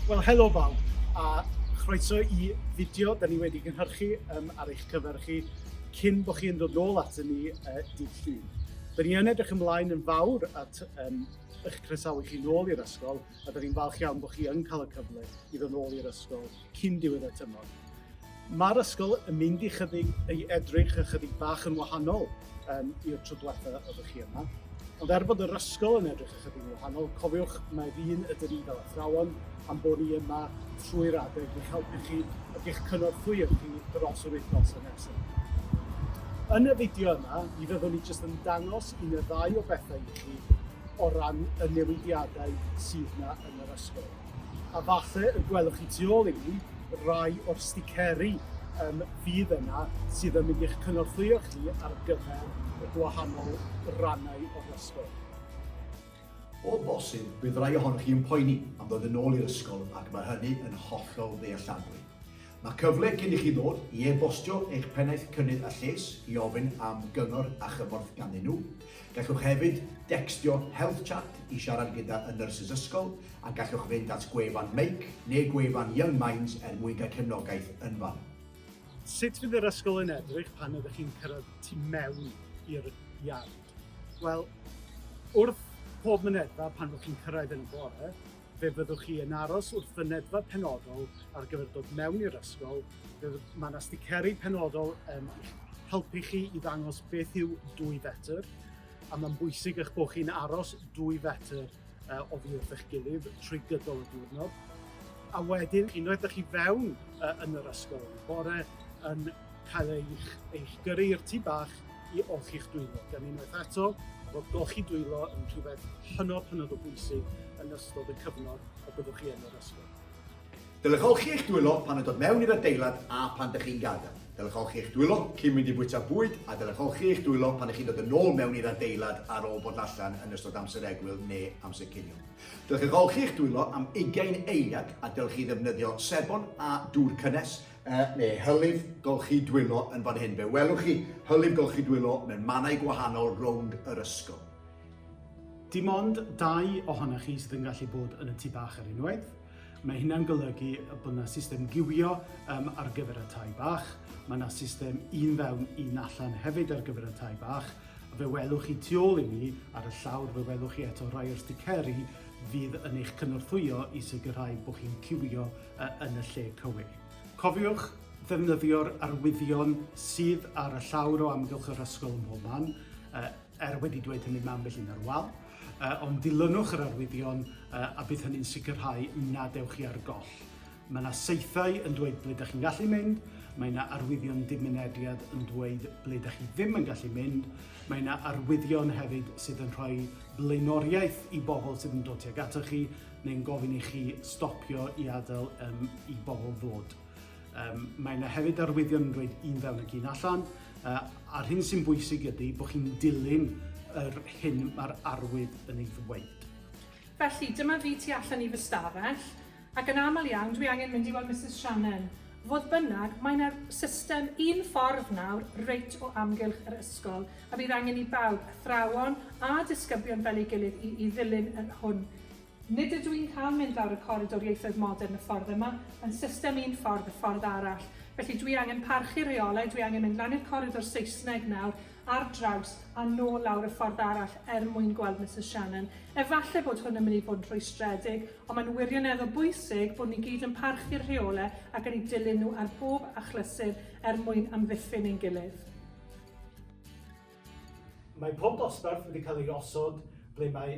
Wel helo bawb a chroeso i fideo da ni wedi gynhyrchu um, ar eich cyfer chi cyn bod chi'n dod nôl at ni uh, dydd llun. Da ni yn edrych ymlaen yn fawr at um, eich croesawu chi nôl i'r ysgol a dyn ni'n falch iawn bod chi yn cael y cyfle i ddod nôl i'r ysgol cyn diwedd y tymor. Mae'r ysgol yn mynd i chydig ei edrych a chydig bach yn wahanol um, i'r tro diwetha oeddech chi yma. Ond er bod yr ysgol yn edrych ychydig yn wahanol, cofiwch mae'r un ydyn ni fel athrawon am bod ni yma trwy'r adeg i helpu chi ac eich cynorthwyo chi dros yr wythnos yn nesaf. Yn y fideo yma, mi fyddwn ni jyst yn dangos un neu ddau o bethau i chi o ran y newidiadau sydd 'na yn yr ysgol. A falle y gwelwch chi tu ôl i mi rai o'r sticeri um, fydd yna sydd yn mynd i'ch cynorthwyo chi ar gyfer y gwahanol rannau o'r ysgol. O bosib, bydd rai ohonoch chi yn poeni am ddod yn ôl i'r ysgol ac mae hynny yn hollol ddealladwy. Mae cyfle cyn i chi ddod i e-bostio eich pennaeth cynnydd a lles i ofyn am gyngor a chymorth ganddyn nhw. Gallwch hefyd decstio Health Chat i siarad gyda y nyrsys ysgol a gallwch fynd at gwefan Make neu gwefan Young Minds er mwyn cael cefnogaeth yn fan. Sut fydd yr ysgol yn edrych pan ydych chi'n cyrraedd tu mewn i'r iard? Wel, wrth pob mynedfa pan fod chi'n cyrraedd yn y bore, Fe fyddwch chi yn aros wrth fynedfa penodol ar gyfer dod mewn i'r ysgol, fe fy- mae 'na sticeri penodol yn eich helpu chi i ddangos beth yw dwy fetr, a mae'n bwysig eich bod chi'n aros dwy fetr uh, oddi wrth eich gilydd trwy gydol y diwrnod. A wedyn, unwaith ydych chi fewn uh, yn yr ysgol yn y bore, yn cael eich eich gyrru i'r tŷ bach i olchi'ch dwylo, gan unwaith ato fod golchi dwylo yn rhywbeth hynod hynod o bwysig yn ystod y cyfnod y byddwch chi yn yr ysgol. Dylech olchi eich dwylo pan yn dod mewn i'r adeilad a phan dych chi'n gadael. Dylech olchi eich dwylo cyn mynd i fwyta bwyd a dylech olchi eich dwylo pan ych chi'n dod yn ôl mewn i'r adeilad ar ôl bod allan yn ystod amser egwyl neu amser cinio. Dylech olchi eich dwylo am ugain eiliad a dylech chi ddefnyddio sebon a dŵr cynnes uh, neu hylif golchi dwylo yn fan hyn. Fe welwch chi hylif golchi dwylo mewn mannau gwahanol rownd yr ysgol. Dim ond dau ohonoch chi sydd yn gallu bod yn y tu bach ar unwaith. Mae hynna'n golygu bod yna system giwio um, ar gyfer y tai bach. Mae yna system un fewn, un allan hefyd ar gyfer y tai bach. A fe welwch chi tu ôl i mi, ar y llawr, fe welwch chi eto rai o'r sticeri fydd yn eich cynorthwyo i sicrhau bod chi'n ciwio yn y lle cywir. Cofiwch ddefnyddio'r arwyddion sydd ar y llawr o amgylch yr ysgol ym mhob man, er wedi dweud hynny mae ambell un ar wal, ond dilynwch yr arwyddion a bydd hynny'n sicrhau nad ewch chi ar goll. Mae yna saethau yn dweud ble ydych chi'n gallu mynd, mae yna arwyddion dymunediad yn dweud ble ydych chi ddim yn gallu mynd, mae yna arwyddion hefyd sydd yn rhoi blaenoriaeth i bobl sydd yn dod tuag atoch chi, neu'n gofyn i chi stopio i adael um, i bobl ddod. Um, mae yna hefyd arwyddion yn dweud un fewn ac un allan, uh, a'r hyn sy'n bwysig ydy bod chi'n dilyn yr hyn mae'r arwydd yn ei ddweud. Felly, dyma fi tu allan i fy stafell, ac yn aml iawn dwi angen mynd i weld Mrs Shannon. Fodd bynnag, mae yna system un ffordd nawr reit o amgylch yr ysgol, a bydd angen i bawb, athrawon a disgyblion fel ei gilydd, i, i ddilyn yr hwn. Nid ydw i'n cael mynd lawr y coridor ieithoedd modern y ffordd yma, yn system un ffordd y ffordd arall. Felly dwi angen parchu rheolau, dwi angen mynd lan i'r coridor Saesneg nawr, ar draws, a nôl lawr y ffordd arall er mwyn gweld Misus Shannon. Efalle bod hwn yn mynd i fod yn rhwystredig, ond mae'n wirionedd o bwysig bod ni gyd yn parchu'r rheolau ac yn eu dilyn nhw ar bob achlysur er mwyn amddiffyn ein gilydd. Mae pob dosbarth wedi cael ei osod ble mae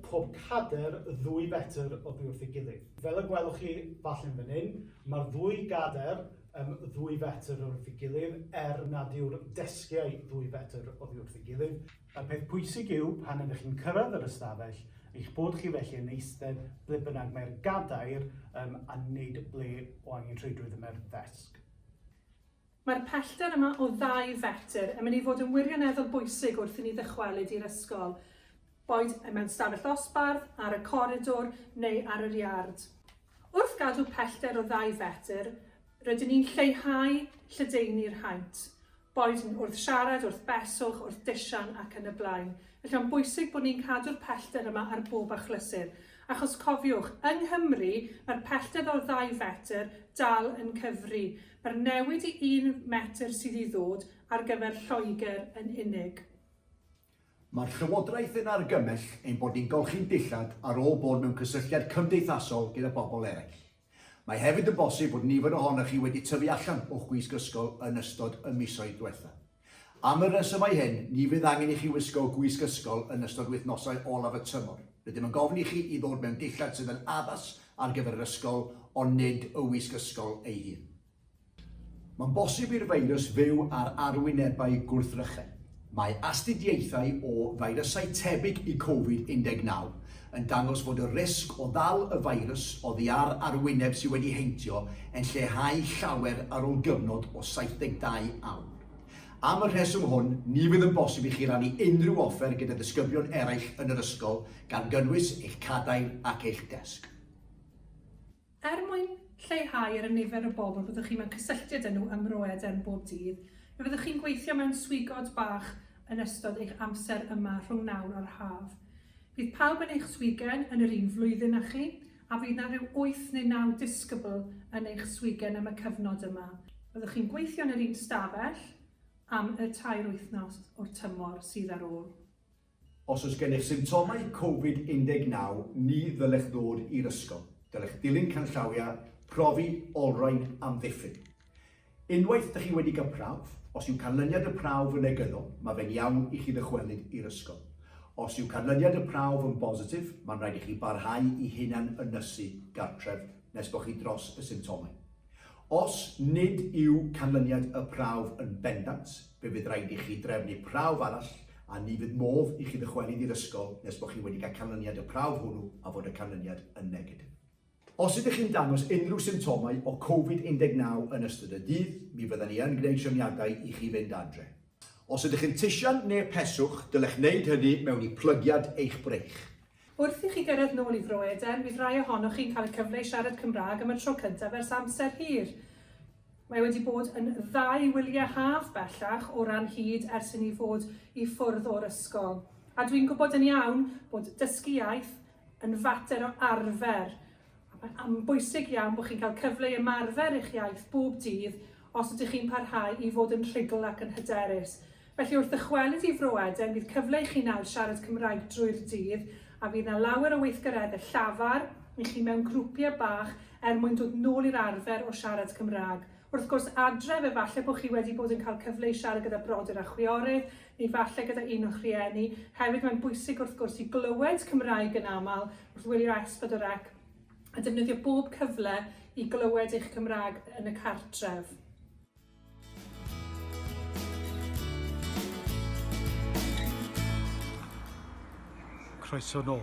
pob cadair ddwy fetr oddi wrth ei gilydd. Fel y gwelwch chi falle yn fan hyn, mae'r ddwy gadair yym ddwy fetr oddi wrth ei gilydd, er nad yw'r desgiau ddwy fetr oddi wrth ei gilydd. Y peth pwysig yw, pan ydych chi'n cyrraedd yr ystafell, eich bod chi felly yn eistedd ble bynnag mae'r gadair yym a nid ble o angenrheidrwydd y mae'r ddesg. Mae'r pellter yma o ddau fetr yn mynd i fod yn wirioneddol bwysig wrth i ni ddychwelyd i'r ysgol, boed y mewn stafell ddosbarth, ar y coridor neu ar yr iard. Wrth gadw pellter o ddau fetr, rydyn ni'n lleihau lledaenu'r haint, boed yn wrth siarad, wrth beswch, wrth disian ac yn y blaen. Felly mae'n bwysig bod ni'n cadw'r pellter yma ar bob achlysur. Achos cofiwch, yng Nghymru, mae'r pellter o ddau fetr dal yn cyfri. Mae'r newid i un metr sydd i ddod ar gyfer Lloegr yn unig. Mae'r Llywodraeth yn argymell ein bod ni'n golchi'n dillad ar ôl bod mewn cysylltiad cymdeithasol gyda bobl eraill. Mae hefyd yn bosib bod nifer ohonoch chi wedi tyfu allan o'ch gwisg ysgol yn ystod y misoedd diwethaf. Am y rhesymau hyn, ni fydd angen i chi wisgo gwisg ysgol yn ystod wythnosau olaf y tymor. Rydym yn gofyn i chi i ddod mewn dillad sydd yn addas ar gyfer yr ysgol, ond nid y wisg ysgol ei hun. Mae'n bosib i'r feirws fyw ar arwynebau gwrthrychau. Mae astudiaethau o feirysau tebyg i Covid 19 yn dangos fod y risg o ddal y feirws oddi ar arwyneb sydd wedi heintio yn lleihau llawer ar ôl gyfnod o 72 awr. Am y rheswm hwn, ni fydd yn bosib i chi rannu unrhyw offer gyda disgyblion eraill yn yr ysgol, gan gynnwys eich cadair ac eich desg. Er mwyn lleihau ar y nifer o bobl byddwch chi mewn cysylltiad â nhw ym Mro Edern bob dydd, fe fyddwch chi'n gweithio mewn swigod bach yn ystod eich amser yma rhwng nawr a'r haf. Bydd pawb yn eich swigen yn yr un flwyddyn â chi, a fydd 'na ryw wyth neu naw disgybl yn eich swigen am y cyfnod yma. Byddwch chi'n gweithio yn yr un stafell am y tair wythnos o'r tymor sydd ar ôl. Os oes gennych symptomau Covid 19, ni ddylech ddod i'r ysgol. Dylech ddilyn canllawiau profi olrhain amddiffyn. Unwaith dych chi wedi cael prawf, os yw canlyniad y prawf yn negyddol, mae fe'n iawn i chi ddychwelyd i'r ysgol. Os yw canlyniad y prawf yn bositif, mae'n rhaid i chi barhau i hunan ynysu gartref nes bod chi dros y symptomau. Os nid yw canlyniad y prawf yn bendant, Fe fydd raid i chi drefnu prawf arall a ni fydd modd i chi ddychwelyd i'r ysgol nes bod chi wedi cael canlyniad y prawf hwnnw a fod y canlyniad yn negatif. Os ydych chi'n dangos unrhyw symptomau o Covid 19 yn ystod y dydd, mi fyddan ni yn gwneud trefniadau i chi fynd adre. Os ydych yn tisian neu peswch, dylech wneud hynny mewn i plygiad eich breich. Wrth i chi gyrraedd nôl i Fro Eden, bydd rhai ohonoch chi'n cael y cyfle i siarad Cymraeg am y tro cyntaf ers amser hir. Mae wedi bod yn ddau wyliau haf bellach o ran hyd ers i ni fod i ffwrdd o'r ysgol. A dwi'n gwybod yn iawn bod dysgu iaith yn fater o arfer Mae'n bwysig iawn bod chi'n cael cyfle i ymarfer eich iaith bob dydd os ydych chi'n parhau i fod yn rhugl ac yn hyderus. Felly wrth ddychwelyd i Fro Eden, bydd cyfle i chi nawr siarad Cymraeg drwy'r dydd a bydd yna lawer o weithgareddau llafar i chi mewn grwpiau bach er mwyn dod nôl i'r arfer o siarad Cymraeg. Wrth gwrs, adref efallai bod chi wedi bod yn cael cyfle i siarad gyda brodyr a chwiorydd, Efallai gyda un o'ch rhieni. Hefyd, mae'n bwysig wrth gwrs i glywed Cymraeg yn aml wrth wylio S4C a defnyddio bob cyfle i glywed eich Cymraeg yn y cartref. Croeso nôl.